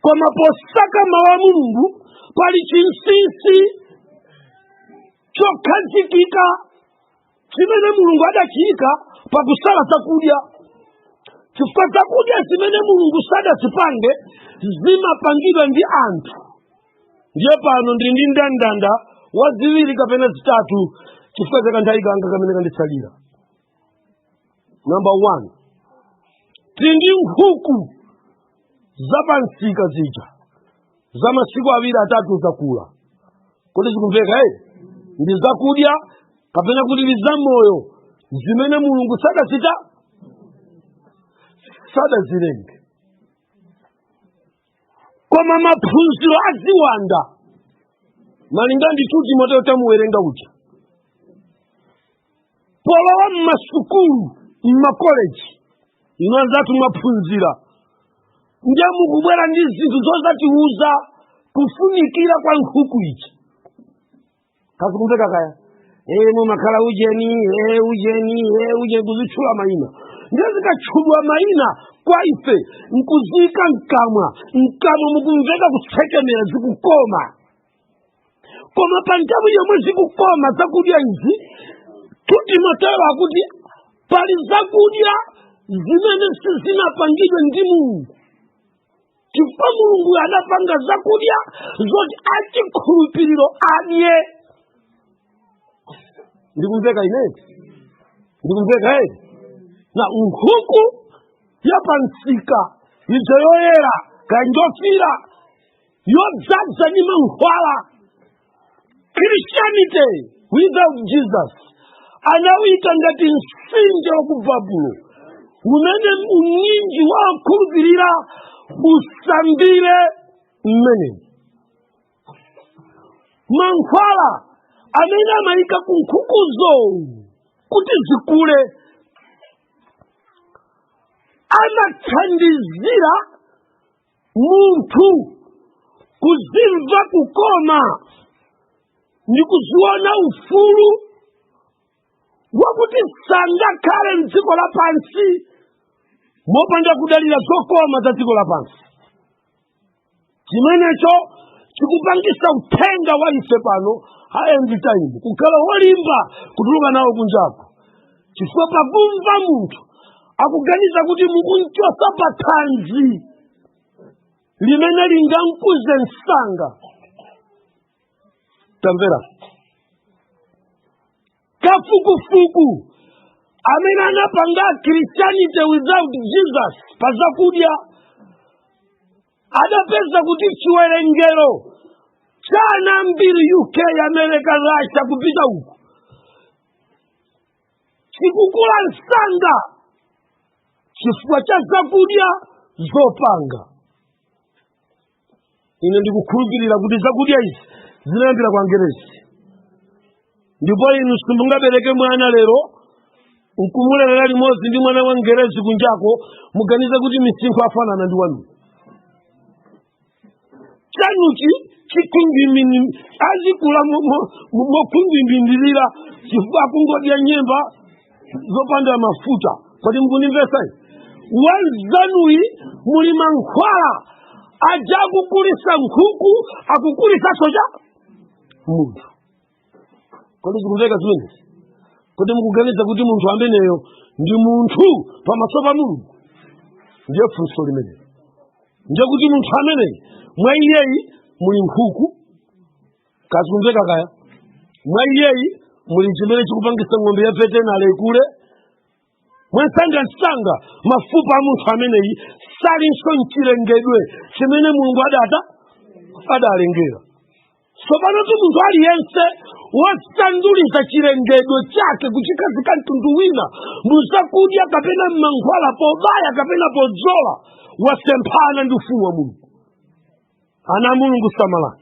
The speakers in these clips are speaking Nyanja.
koma posaka mawu a mulungu pali chinsinsi chokhazikika chimene mulungu adachiyika pakusala zakudya chifukwa zakudya zimene mulungu sadazipange zimapangidwa ndi anthu ndiye pano ndili ndi ndandanda wa ziwiri kapena zitatu chifukwa chakanthawi kanga kamene kanditsalira namba 1 tindi nkhuku zapansika zija za masiku awiri atatu zakula kodi zikumveka eh? ndi zakudya kapena kuti ndi zamoyo zimene mulungu sadachite sadazilenge koma maphunziro a ziwanda malinga ndi tu timoteo tamuwerenga uja polowa mmasukulu mmakoleji ino anzathu mwaphunzira ndiye mukubwera ndi zinthu zodzatiuza kufunikira kwa nkhuku ija zikumveka kaya ee mumakhala ujeni ee ujeni ee ujeni kuzitchula mayina ndiye zikatchulwa mayina kwa ife nkuziika mkamwa mkamwa mukumveka kutsekemera zikukoma koma pa nthawi yomwe zikukoma zakudya izi tu timoteo akuti pali zakudya zimene sizinapangidwe ndi mulungu chifukwa mulungu anapanga zakudya zoti achikhulupiriro adye ndikumveka ine eti ndikumveka eti ena nkhuku yapansika ija yoyera kanjofira yodzadza ndi mankhwala christianity without jesus anawuyika ngati mtsinje wa ku babulo umene unyinji wa okhulupirira usambire mmenemo mankhwala amene amayika ku nkhukuzo kuti zikule amathandizira munthu kuzimva kukoma ndi kuziona ufulu wakuti sangakhale mdziko lapansi mopanda kudalira zokoma za dziko lapansi chimenecho chikupangisa uthenga wa ife pano a end time kukhala wolimba kutuluka nawo kunjako chifukwa pakumva munthu akuganiza kuti mukumchotsa pa thanzi limene lingamkuze msanga tamvera kafukufuku amene anapanga christianity without jesus pa zakudya adapeza kuti chiwerengero cha ana ambiri uk america russia kupita uko chikukula msanga chifukwa cha zakudya zopanga ine ndikukhulupirira kuti zakudya izi zinayambira kwa angerezi ndipo inu simungabereke mwana lero nkumulerera limodzi ndi mwana wa mngerezi kunjako muganize kuti misinkhu afanana ndi wanu chanuchi chikhungwimini azikula mo- mo- mo- mokhungwimbindirira chifukwa akungodya nyemba zopanda mafuta kodi mukundimvesani wamnzanuyi muli mankhwala aja okukulisa nkhuku akukulisanso cha munthu kodi zikumveka zimenezi kodi mukuganiza kuti munthu ameneyo ndi munthu pamaso pa mulungu ndiye funso limenelo ndiye kuti munthu ameneyi mwa iyeyi muli nkhuku kaya zikumveka kaya mwa iyeyi muli chimene chikupangisa ng'ombe ya vetenale ikule mwamsangamsanga mafupa a munthu ameneyi salinso mchilengedwe chimene mulungu adata adalengera tsopanotu munthu aliyense wosanduliza chilengedwe chake kuchikhazika mtundu wina muzakudya kapena mmankhwala pobaya kapena podzola wasemphana ndi ufumu wa mulungu ana a mulungu samalani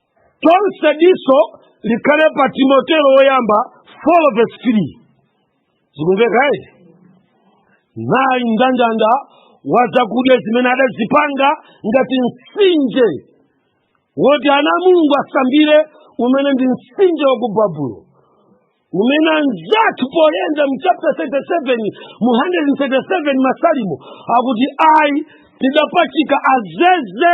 tonse diso likhale pa timoteo woyamba 4 verse 3 zikumveka eti nayi mndandanda wa zakudya zimene adazipanga ngati mtsinje woti ana a mulungu asambire umene ndi mtsinje wa ku babulo umene anzathu poyenda mu chapter 137 mu 137 masalimo akuti ayi tidapachika azeze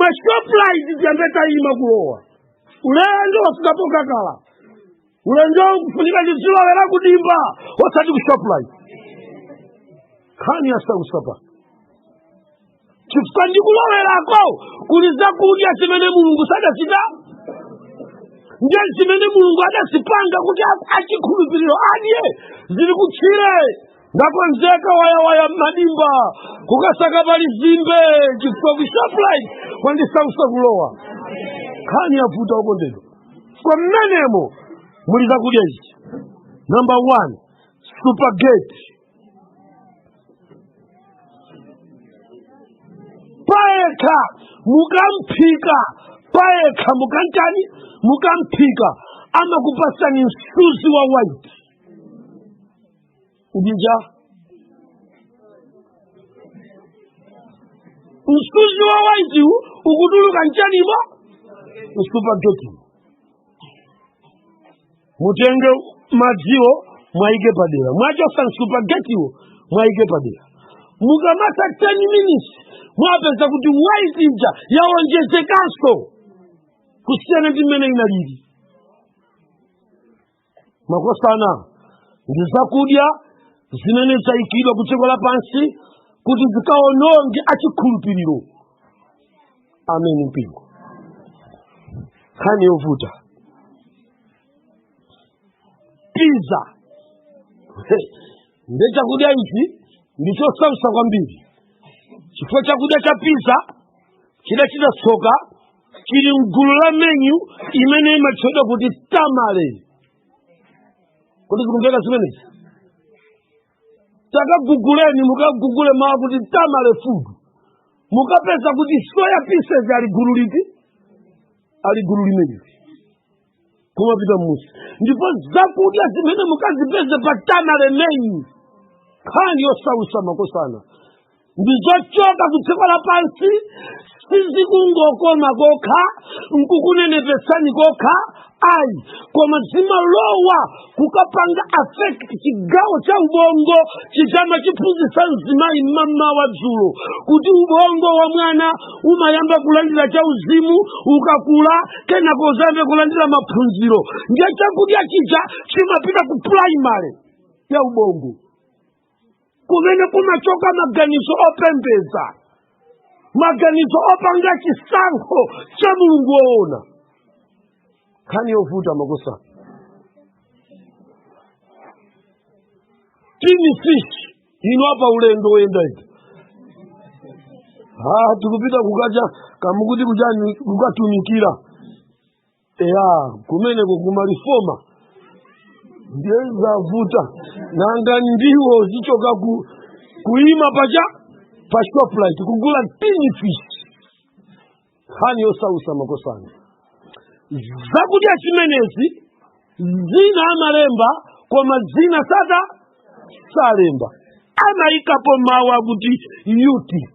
mashoprite tiyambeta ima kulowa ulendo wafikapo kakala ulendo kufunika ndizilowera kudimba osati ku shoprite nkhani yasautsa apa chifukwa ndikalowerako kuli zakudya zimene mulungu sadachita nde zimene mulungu adazipanga kuti achikhulupiriro adye zili kutchire ndakonzeka wayawaya m'madimba kukasaka pali nzimbe chifukwa ku shoprite kwandisautsa kulowa nkhani yavuta okondedwa kaamba mmenemo muli zakudya izi number one supergate payekha mukamphika payekha mukantani mukamphika amakupasani msuzi wa white uti uja msuzi wa waiti wu ukutuluka m'chanimo m'supageti mutenge madziwo mwaike padera mwachotsa m'supagetiwo mwaike padera mukamatha 10 minutes mwapeza kuti waiti ija yawonjezekanso kusiyana ndi mmene inalili makosana ndi zakudya zimene zayikidwa ku dziko lapansi kuti zikawononge achikhulupiriro amene mpingo nkhani yovuta piza ndiye chakudya ichi ndi chosautsa kwambiri chifukwa chakudya cha piza chidachita tsoka chili mgulu la menyu imene imatchedwa kuti tamale kodi zikumveka zimenezi takaguguleni mukagugule mawu kuti tamale food mukapeza kuti soya pieces ali gulu liti ali gulu limeneli kumapita mmusi ndipo zakudya zimene mukazipeze pa tamale menyu nkhani yosautsa makosana ndi zochoka ku dziko lapansi sizikungokoma kokha nkukunenepesani kokha ayi koma zimalowa kukapanga affect chigawo cha ubongo chija amachiphunzitsa mzimayi mmamawa wa dzulo kuti ubongo wa mwana umayamba kulandira cha uzimu ukakula kenako udzayambe kulandira maphunziro ndiye chakudya chija chimapita ku primary ya ubongo kumene kumachoka maganizo opembedza maganizo opanga chisankho cha mulungu woona nkhani yovuta makosana tini fish ino apa ulendo woyenda iti ah tikupita kukacha kamukuti kuchani kukatumikira eya kumeneko kuma reforma ndiye zavuta nanga ndiwo zichoka kuti kuima paja pa Shoprite kugula tini fish nkhani yosautsa makosana zakudya zimenezi zina amalemba koma zina sada salemba amaikapo mawu akuti utic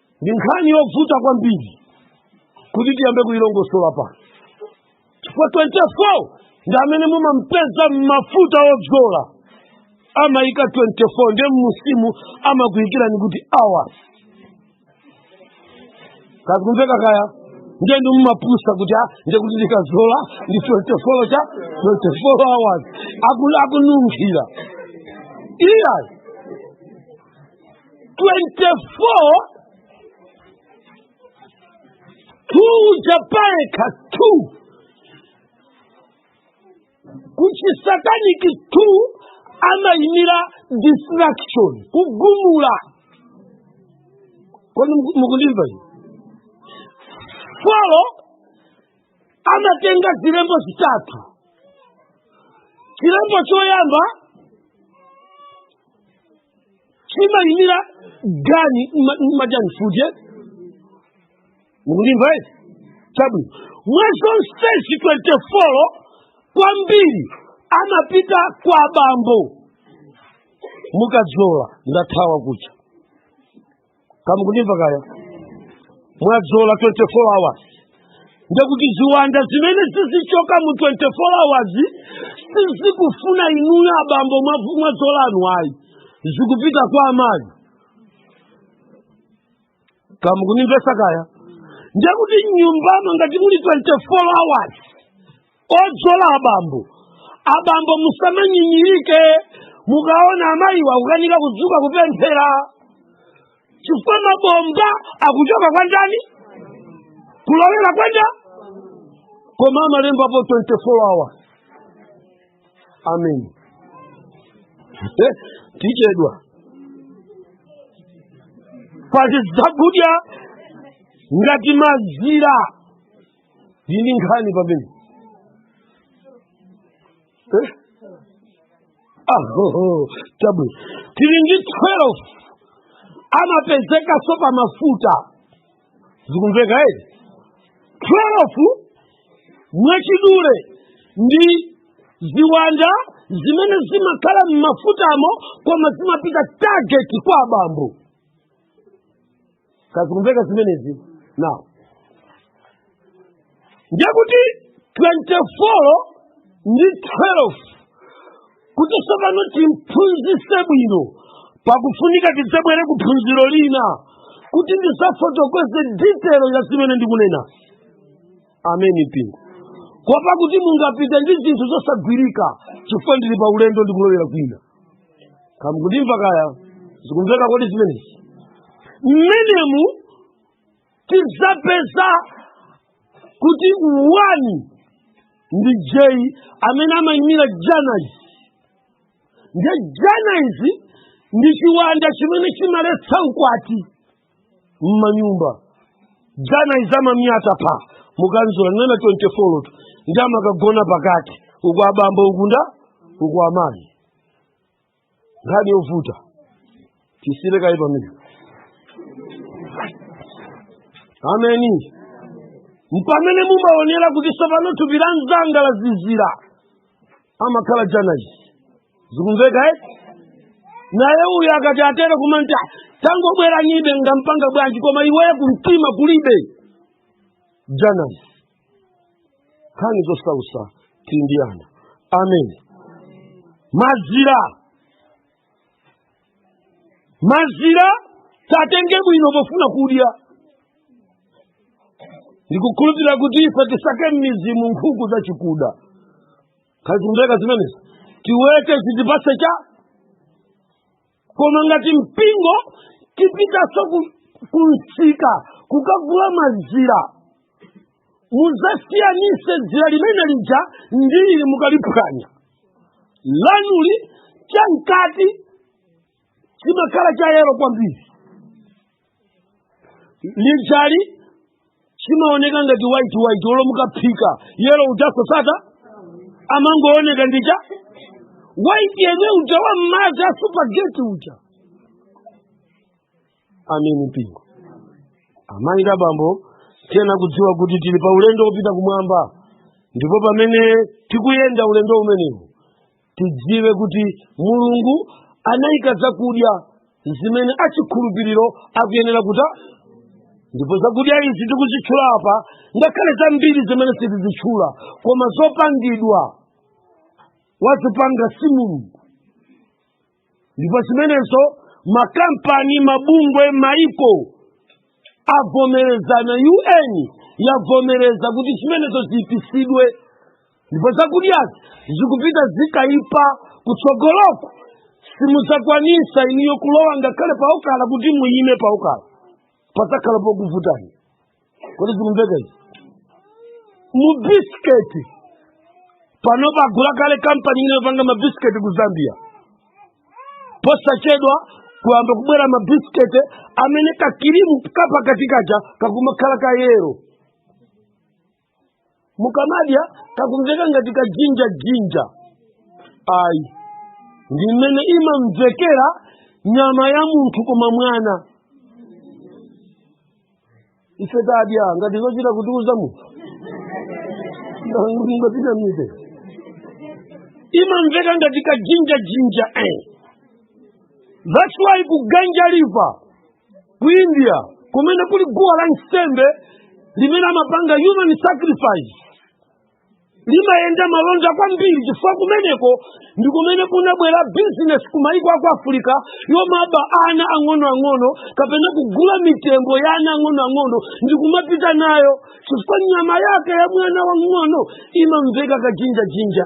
ndi nkhani yovuta kwambiri kuti tiyambe kuyilongosola pano chifukwa 24 ndi amene mumampeza m'mafuta odzola amayika 24 ndiye mmusimu amakuyikirani kuti hours kazikumveka kaya ndiye ndi mumapusa kuti a ndiye kuti ndikazola ndi 24 cha 24 hours Aku- akununkhira iyayi 2 uja payekha 2 kuchisataniki 2 amayimira destruction kugumula kodi muku- mukundimva inu 4 amatenga zilembo zitatu chilembo choyamba chimayimira gani ma- majani futi mukundimva eti chabwino mwa zonsezi 4 kwambiri amapita kwa bambo mukadzola ndathawa kuja kamukundimva kaya mwadzola 24 hours ndekuti ziwanda zimene zizichoka mu 24 hours sizikufuna inuyo abambo mwavu- mwadzolanu ayi zikupita kwa amayi kamukundimvesa kaya ndekuti m'nyumbamo ngati muli 24 hours odzola abambo abambo musamanyinyirike mukaona amayiwa akukanika kudzuka kupemphera chifukwa mabomba akuchoka kwa ndani kulowera kwa nda koma amalembapo 24 hour amen Eh, tichedwa pati zakudya ngati mazira ndi ndi nkhani pamenepo eh? ahoho tabu tili ndi 12 amapezekanso pa mafuta zikumveka eti 12 mwachidule ndi ziwanda zimene zimakhala m'mafutamo koma zimapita target kwa abambo kazikumveka zimenezi nawo ndiye kuti 24 ndi 12 kuti tsopano timphunzitse bwino pakufunika tidzabwere ku phunziro lina kuti ndidzafotokoze ditelo ya zimene ndikunena amen mpingo kuopa kuti mungapite ndi zinthu zosagwirika chifukwa ndili pa ulendo ndikulowera kwina kaya mukundimva kaya zikumveka kodi zimenezi mmenemu tidzapeza kuti one ndi j amene amayimira janais nde janais ndi chiwanda chimene chimaletsa ukwati mmanyumba janais amayamba pa mukadzuka mwana 24 tu ndi amakagona pakati uko abambo ukunso uko amayi nkhani yovuta tisiye kaye pamene ameni mpamene mumaonera kuti tsopano thupi la mzanga lazizira amakhala janais zikumveka eh? naye uyu akati atere kumangoti tangobweranibe ngampanga bwanji koma iweyo kumtima kulibe janais nkhani zosausa tindiyana amen mazira mazira tatenge bwino pofuna kudya ndikukhulupirira kuti ife tisake m'mizimu nkhuku zachikuda kaya zikumveka zimenezi tiwete zitipatse cha koma ngati mpingo tipitanso ku- kumsika kukagula mazira mudzasiyanitse dzira limene lija ndi ili mukaliphwanya lanuli chamkati chimakhala chayero kwambiri ilili chimaoneka ngati white white olo mukaphika yero uja saoneka amangooneka ngati white yemwe uja wa m'madzi a supageti uja ameni mpingo amayi ndi abambo tiyenera kudziwa kuti tili pa ulendo wopita kumwamba ndipo pamene tikuyenda ulendo umenewu tidziwe kuti mulungu anayika zakudya zimene achikhulupiriro akuyenera kudya ndipo zakudya izi tikuzitchula apa ngakhale zambiri zimene sitizitchula koma zopangidwa wazipanga si mulungu ndipo zimenezo makampani mabungwe maiko avomereza na un yavomereza kuti zimenezo ziipitsidwe ndipo zakudyazi zikupita zikaipa kutsogoloku simudzakwanisa inuyo kulowa ngakhale paokala kuti muyime paokala padzakhala pokuvutani kodi zikumveka izi mu bisiketi pano tagula kale kampani ina yopanga mabisiketi ku zambia posachedwa kuyamba kubwera mabisiketi amene kakirimu kapakatikacho kakumakhala kayero mukamadya kakumveka ngati kajinja jinja ayi ndi mmene imamvekera nyama ya munthu koma mwina ife tadya ngati zochita kutiuza munthu ngapita mite imamveka ngati kajinja jinja eh. that's why kuganja liva ku india kumene kuli guwa la nsembe limene amapanga human sacrifice limayenda malonda kwambiri chifukwa kumeneko ndi kumene kunabwera bizinesi ku maiko aku afirika yomaba ana ang'onoang'ono kapena kugula mitembo ya ana ang'onoang'ono ndi kumapita nayo chifukwa nyama yake ya mwana wang'ono imamveka kajinjajinja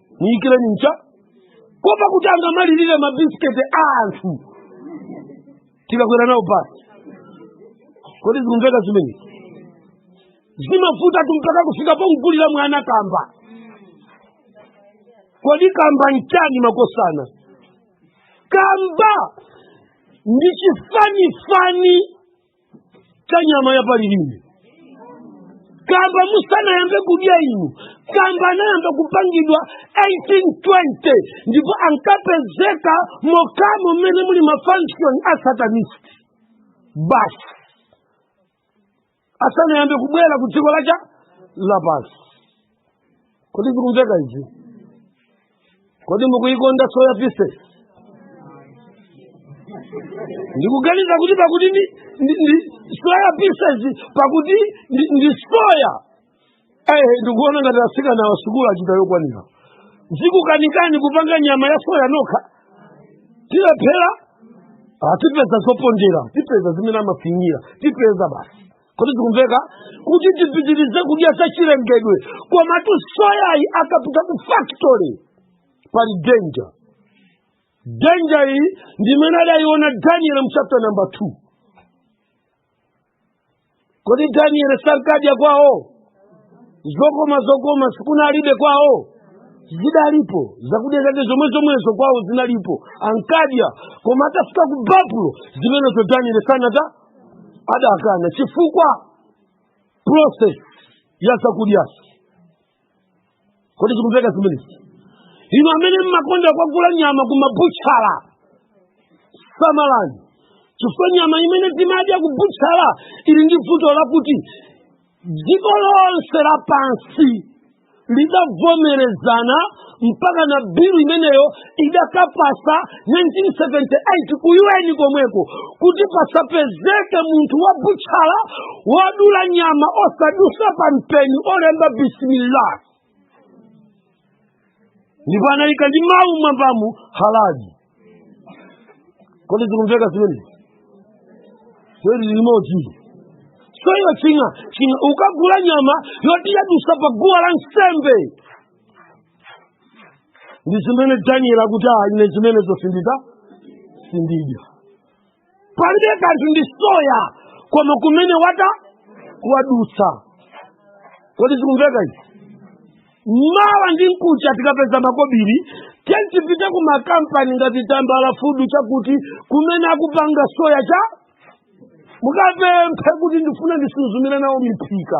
muyikireni mchakopa kuti angamalirire mabisiketi a anthu tikakwera nawo basi kodi zikumveka zimenezi mavuta tu mpaka kufika pomgulira mwana kamba kodi kamba nchani makosana kamba ndi chifanifani cha nyama ya palilime kamba musanayambe kudya inu kamba anayamba kupangidwa 1820 ndipo ankapezeka mokhamo mmene muli mafunction a satanist basi asanayambe kubwera ku dziko lachalapansi kodi zikumveka izi kodi mukuikonda soya pieces ndikuganiza kuti pakuti ndi, ndi, ndi soya pieces pakuti ndi, ndi soya eh ndikuona ngati asikana wa sukulu achita yokwanira zikukanikani kupanga nyama ya soya nokha tilephera tipeza zopondera tipeza zimene amafinyira tipeza basi kodi zikumveka kuti tipitirize kudya zachilengedwe komatu soyayi akapita ku factory pali danger danger iyi ndimene adayiona daniel mchapta namba 2 kodi daniel sankadya kwawo zokoma zokoma si kunalibe kwawo zidalipo zakudya zake zomwe zomwezo kwawo zinalipo ankadya koma atafika ku babulo zimenezo daniel sanadye adakana chifukwa process ya zakudyazi kodi zikumveka zimenezi inu amene mmakonda kwagula nyama kumabutchala samalani chifukwa nyama imene timadya yakubutchala ili ndi vuto lakuti dziko lonse lapansi lidavomerezana mpaka na bilu imeneyo idakapasa 1978 ku un komweko kuti pasapezeke munthu wa butchala wodula nyama osadutsa pa mpeni olemba bismillah ndipo anayika ndi mawu mwambamu halali kodi zikumveka zimenezi kweli limodzi soyo ching'a ching'a ukagula nyama yoti yadutsa pa guwa la nsembe ndi zimene daniel akuti ayi ine zimenezo sindidya sindidya palibe kanthu ndi soya koma kumene wata wadutsa kodi zikumveka izi mawa ndi mkucha tikapeza makobiri tiyeni tipite ku makampani ngati tambala fudu chakuti kumene akupanga soya cha mukapemphe kuti ndifuna ndisuzumire nawo miphika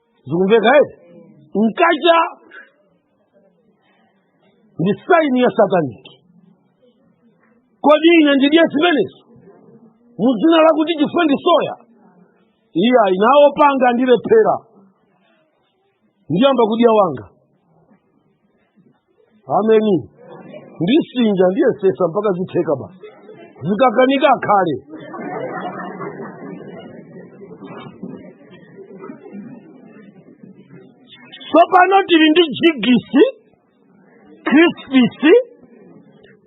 zikumveka eti nkaona ndi saini ya sataniki kodi ine ndidye zimenezo mu dzina lakuti chifukwa ndi soya iyayi nawo panga ndilephera ndiyamba kudya wanga ameni ndisinja ndiyesesa mpaka zitheka bas zikakanika akhale tsopano tili ndi jigisi krispisi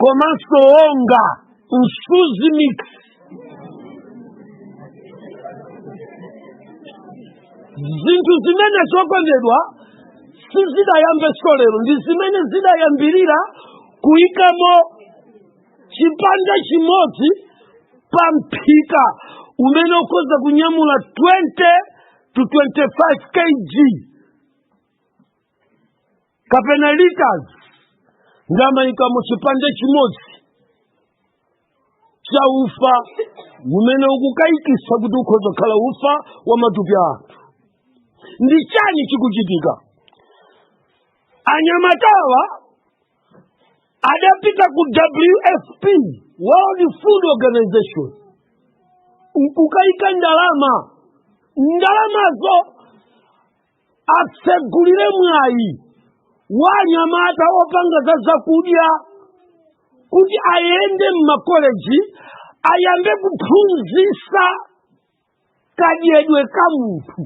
komanso onga msuzi mix zinthu zimenezo okondedwa sizidayambenso lero ndi zimene zidayambirira kuyikamo chipande chimodzi pa mphika umene ukhoza kunyamula 20 to 25 kg kapena litres ndamayikamo chipande chimodzi cha ufa umene ukukayikisa kuti ukhoza kukhala ufa wa matupi a anthu ndi chani chikuchitika anyamatawa adapita ku wfp world food organization nkukayika ndalama ndalamazo atsegulire mwayi wa anyamata opanga za zakudya kuti ayende m'makoleji ayambe kuphunzisa kadyedwe ka munthu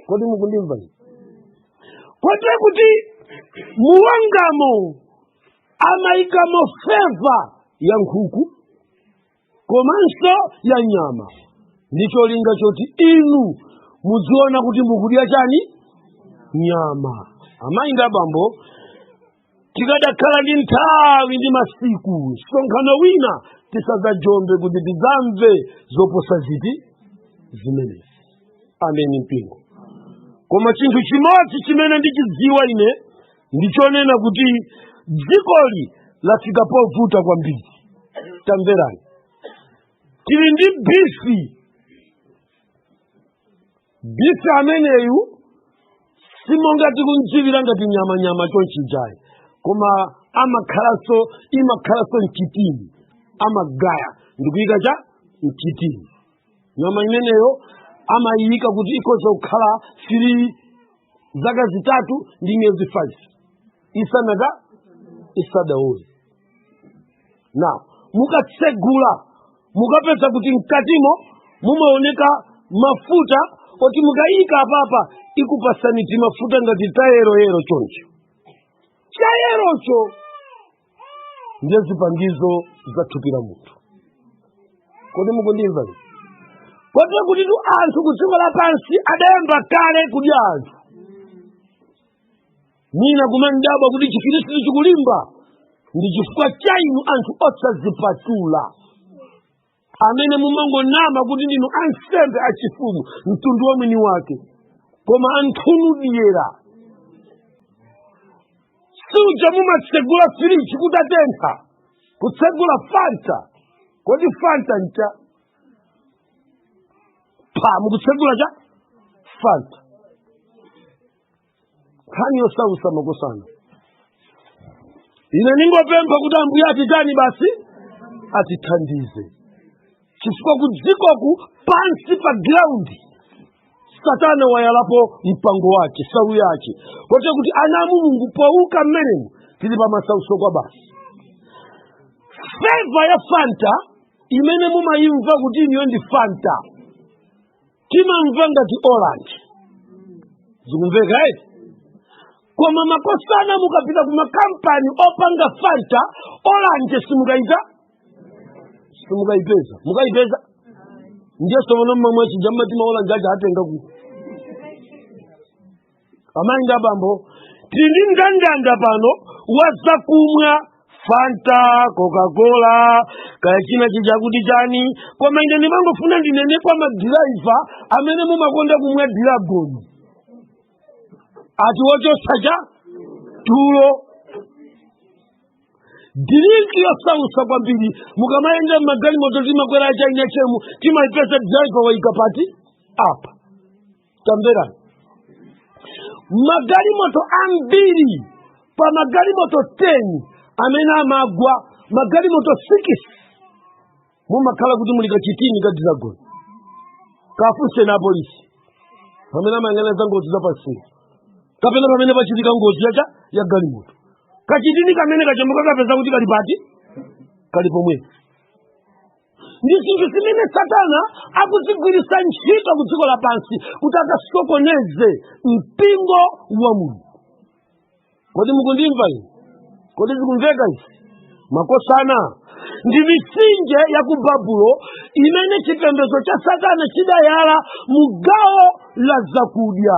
kodi mukundimva ine? kote kuti muungamo amayikamo feva ya nkhuku komanso ya nyama ndi cholinga choti inu mudziona kuti mukudya chani nyama amayi ndi abambo tikadakhala ndi nthawi ndi masiku msonkhano wina tisadzajombe kuti tidzamve zoposa izi zimenezi ameni mpingo koma chinthu chimodzi chimene ndichidziwa ine ndi chonena kuti dzikoli lafika povuta kwambiri tamverani tili ndi bifi bifi ameneyu simonga tikumdziwira ngati nyamanyama chonchijayi koma amakhalanso imakhalanso mchitini amagaya ndikuyika cha mchitini nyama imeneyo amayiyika kuti ikhoza kukhala sili zaka zitatu ndi miyezi 5 isanathe isadaole nde mukatsegula mukapeza kuti mkatimo mumaoneka mafuta oti mukayika apapa ikupasani timafuta ngati tayeroyero choncho chayerocho ndiye zipangizo za thupi la munthu kodi mukundimva ine? kote kutitu anthu ku dziko lapansi adayamba kale kudya anthu mwina mumandidabwa kuti chikhristu chikulimba ndi chifukwa cha inu anthu osazipatula amene mumangonama kuti ndinu ansembe achifumu mtundu wa mwini wake koma anthunu dyera paja mumatsegula firiji kutatentha kutsegula fanta kodi fanta ncha pa mukutsegula cha fanta nkhani yosautsa makosana ine ndingopempha kuti ambuye atitani basi atithandize chifukwa ku dzikoku pansi pa giraundi satana wayalapo mpango wake salu yake kote kuti ana a mulungu poguka mmenemu tili pa masautso kwa basi feva ya fanta imene mumayimva kuti iyiyo ndi fanta timamva ngati oranje zikumveka eti koma makosana mukapita ku makampani opanga fanta oranje simukayita simukayipeza mukayipeza ndiye somono mmamwa chija mmati ma oranje aja atenga ku amayi ndi abambo tili ndi ndandanda pano wa zakumwa fanta coca-cola kaya china chichakuti chani koma ine ndimangofuna ndinene kwa madhiraiva amene mumakonda kumwa diragoni ati wochotsa cha tulo drinki yosausa kwambiri mukamayenda magalimoto timakwera achaina chemu timaipeza diraiva waika pati apa tamverani magalimoto ambiri pa magalimoto 10 amene amagwa magalimoto 6 mumakhala kuti muli kachitini ka dragon kafunseni apolisi pamene amayang'ana za ngozi za pansewu kapena pamene pachitika ngozi yacha ya galimoto kachitini kamene kachamuka kapeza kuti kali pati kali pomwepo ndi zinthu zimene satana akuzigwiritsa ntchito ku dziko lapansi kuti akasokoneze mpingo wa mulungu kodi mukundimva ine kodi zikumveka izi makosana ndi mitsinje ya ku babulo imene chipembedzo cha satana chidayala mu gawo la zakudya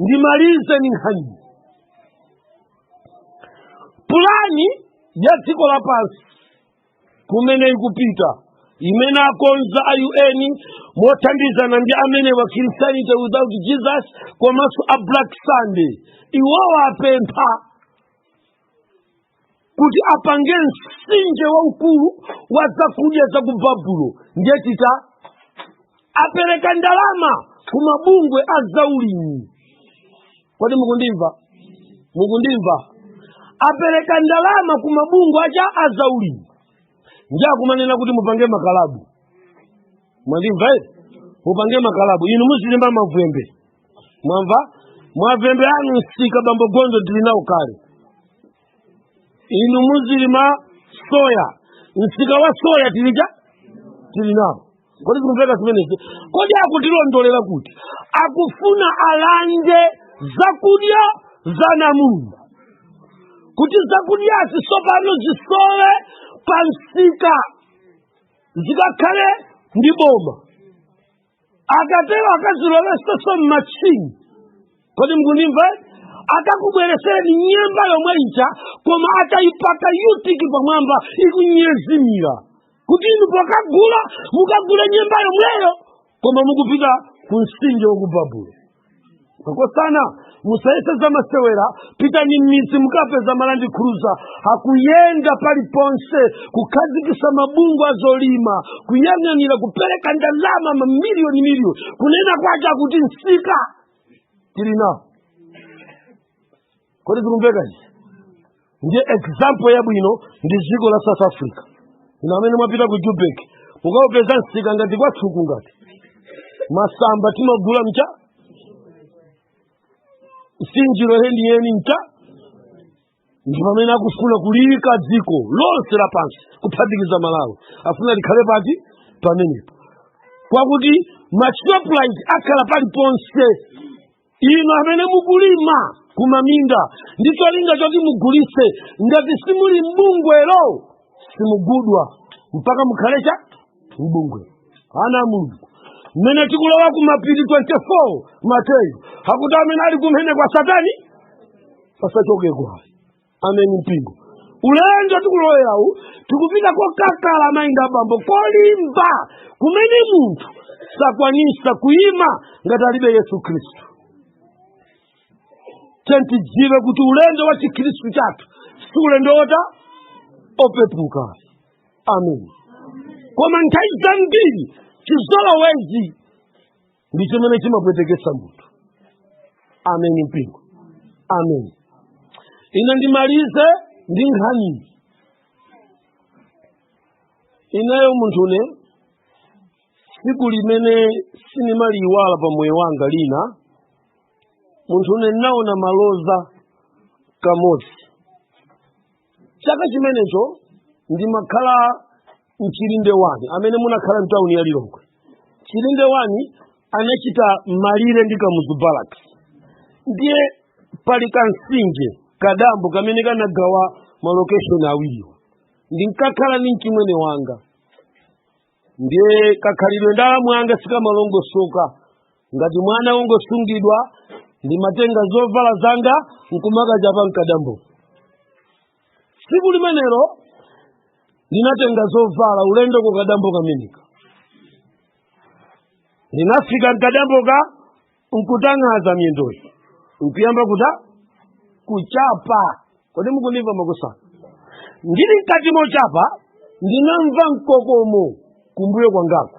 ndimalize ni nkhani pulani ya dziko lapansi kumene ikupita imene akonza a un mothandizana ndi amene wa christianity without jesus komanso a black sunday iwowo apempha kuti apange msinje waukulu wa zakudya za ku babulo ndiye tita apereka ndalama ku mabungwe a zaulimi kodi mukundimva mukundimva apereka ndalama ku mabungwe a cha a zaulimi ndi akumanena kuti mupange makalabu mwandimva eti mupange makalabu inu muzilima mavwembe mwamva mavwembe anu msika bambo gondo ndili nawo kale inu muzilima soya msika wa soya tilija tili nawo kodi zikumveka zimenezi kodi akutilondolera kuti akufuna alande zakudya za Mulungu kuti zakudyazi tsopano zisowe pa msika zikakhale ndi boma akatero akazilowetsenso m'matchini kodi mukundimva eti akakubweresereni nyemba yomwe ija koma atayipaka yutiki pamwamba ikunyezimira kuti inu pokagula mukagule nyemba yomweyo koma mukupita ku nsinje wa ku babulo makosana musayese zamasewera pitani m'midzi mukapeza ma Land Cruiser akuyenda paliponse kukhazikisa mabungwe azolima kuyang'anira kupereka ndalama mamiliyoni miliyoni kunena kwake akuti nsika tili nawo kodi zikumveka izi ndiye example yabwino ndi dziko la south africa inu amene mwapita ku Joburg mukaupeza msika ngati kwathu kuno ngati masamba timagula mcha nsinjiro yeniyeni mcha ndi pamene akufuna kuliyika dziko lonse lapansi kuphatikiza malawi afuna tikhale pati pamenepo kwakuti ma Shoprite akhala paliponse inu amene mukulima kumaminda ndi cholinga choti mugulitse ngati simuli mbungwelo simugulitsa mpaka mukhale chani mbungwelo ana a mulungu mmene tikulowa ku mapiri 24 mateyu akuti amene ali kumene kwa satani asachokeko ayi ameni mpingo ulendo wa tikulowerawu tikupita kokakala mayi ndi abambo kolimba kumene munthu sakwanisa kuyima ngati alibe yesu khristu tsono tidziwe kuti ulendo wa chikhristu chathu si ulendo wota wopepuka amen koma nthawi zambiri chizolowezi ndi chimene chimapweteketsa munthu ameni mpingo ameni ine ndimalize ndi nkhani ineyo munthune pa tsiku limene sindimaliyiwala pa moyo wanga ine munthune ndinaona maloza kamodzi chaka chimenecho ndimakhala mchilinde wani amene munakhala mtawuni ya lilongwe chilinde wani anachita malire ndi kamuzu barracks ndiye pali kansinje kadambo kamene kanagawa malokeshoni awiriwo ndinkakhala ndi mchimwene wanga ndiye kakhalidwe ndi alamu anga sikamalongosoka ngati mwana wongosungidwa ndimatenga zovala zanga nkumakachapa mkadambo tsiku limenelo ndinatenga zovala ulendo ku kadambo kameneko ndinafika mkadamboka nkutang'aza myendoyi nkuyamba kuta kuchapa kodi mukundimva makosana ndili mkati mochapa ndinamva mkokomo kumbuyo kwangako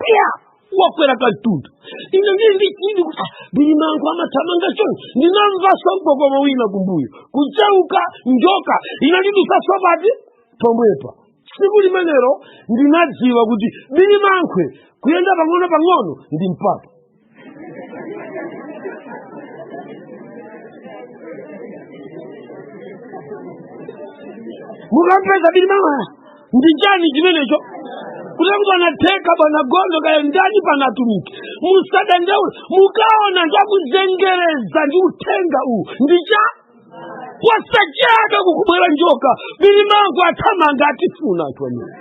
pya wakwera kamtunda ine ndiri ndichidi kuti ah, bilimankhwe amathamanga chonchi ndinamvaso mgogomo wina kumbuyo kucheuka njoka inandidutsaso pa ti pomwepa tsiku limenelo ndinadziwa kuti bilimankhwe kuyenda pang'ono pang'ono ndi mpata mukampeza bilimankhwe ndi chani chimenecho kutheka kuti anatheka bwana Gondo kaya ndani pali atumiki musadandaule mukaona ndikuzengereza ndi uthenga uwu ndi cha kwachabe kukubwera njoka bilimankhwe athamanga atifuna anthu amene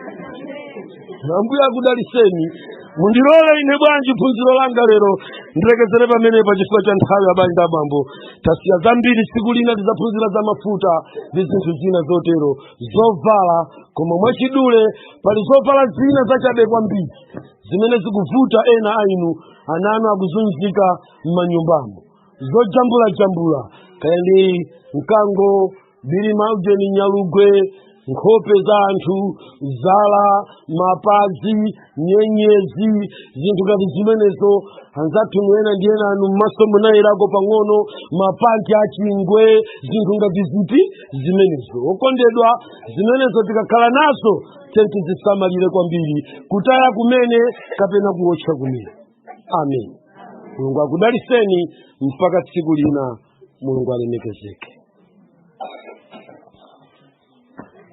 ambuye akudaliseni mundilole ine bwanji phunziro langa lero ndilekezere pamenepa chifukwa cha nthawi abale ndi abambo tasiya zambiri tsiku lina tidzaphunzira za mafuta ndi zinthu zina zotero zovala koma mwachidule pali zovala zina zachabe kwambiri zimene zikuvuta ena a inu ana anu akuzunzika m'manyumbamo zojambulajambula kaya ndi mkango bilima ujeni nyalugwe nkhope za anthu zala mapazi nyenyezi zinthu ngati zimenezo anzathu inu ena ndi ena anu mmaso munayerako pang'ono mapanti achingwe zinthu ngati ziti zimenezo okondedwa zimenezo tikakhala nazo tenti zisamalire kwambiri kutaya kumene kapena kuwotcha kumene amen mulungu akudaliseni mpaka tsiku lina mulungu alemekezeke